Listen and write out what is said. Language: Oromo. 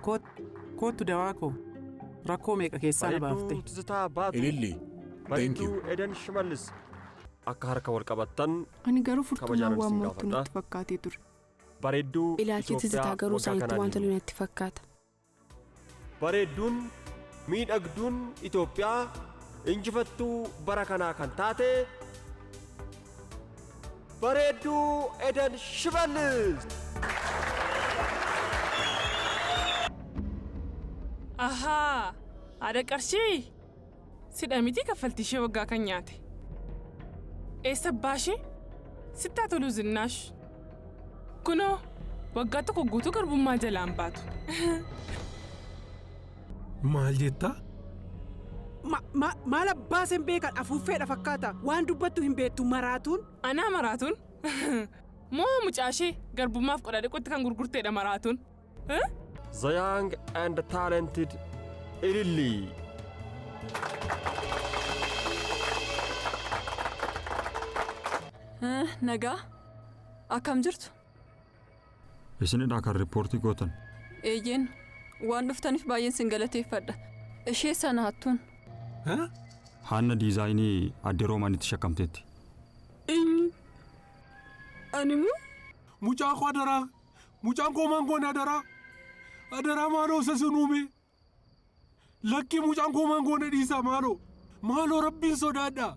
Koot- Koottu dawaa koo. Rakkoo meeqa keessaa na baafte. Bareedduu Tizitaa Baatuu. Ililli. Thank Bareedduu you. Edan Shimallis. Akka harka wal qabattan Ani garuu furtuun Kabajaan waan isin mooftu gaafadha. natti fakkaatee ture. bareedduu Ilaalchi Itoophiyaa tizitaa garuu waggaa isaanitti kanaan waan tolu natti fakkaata. Bareedduun, miidhagduun Itoophiyaa injifattuu bara kanaa kan taate Bareedduu Eden Shimallis! Ahaa! Haadha qarshii! Sidha mitii kaffaltii ishee waggaa kan nyaate. Eessa abbaa ishee? Sitti haa toluu zinnaash. Kunoo waggaa tokko guutuu garbummaa jalaan baatu. Maal jetta? Ma, ma, maal abbaa isheen beekan afuuffeedha fakkaata. Waan dubbattu hin beektu maraatuun. Anaa maraatuun? Moo mucaa ishee garbummaaf qodaa dhiqutti kan gurgurteedha maraatuun? The Young and Talented Ilillii. Eh, Nagaa? Akkam jirtu? Isinidha kan riippoortii gootan. Eeyyeen waan dhuftaniif baay'een sin galateeffadha. Ishee sana hattuun. Haanna diizaayinii adde Roomaanitti shakkamteetti. Eenyu? Animuu? Mucaa koo adaraa Mucaan koo maan goone adaraa? Adaraa maaloo isa sun uume. Lakkii mucaan koo maan goone dhiisaa maaloo. Maaloo rabbiin sodaadhaa.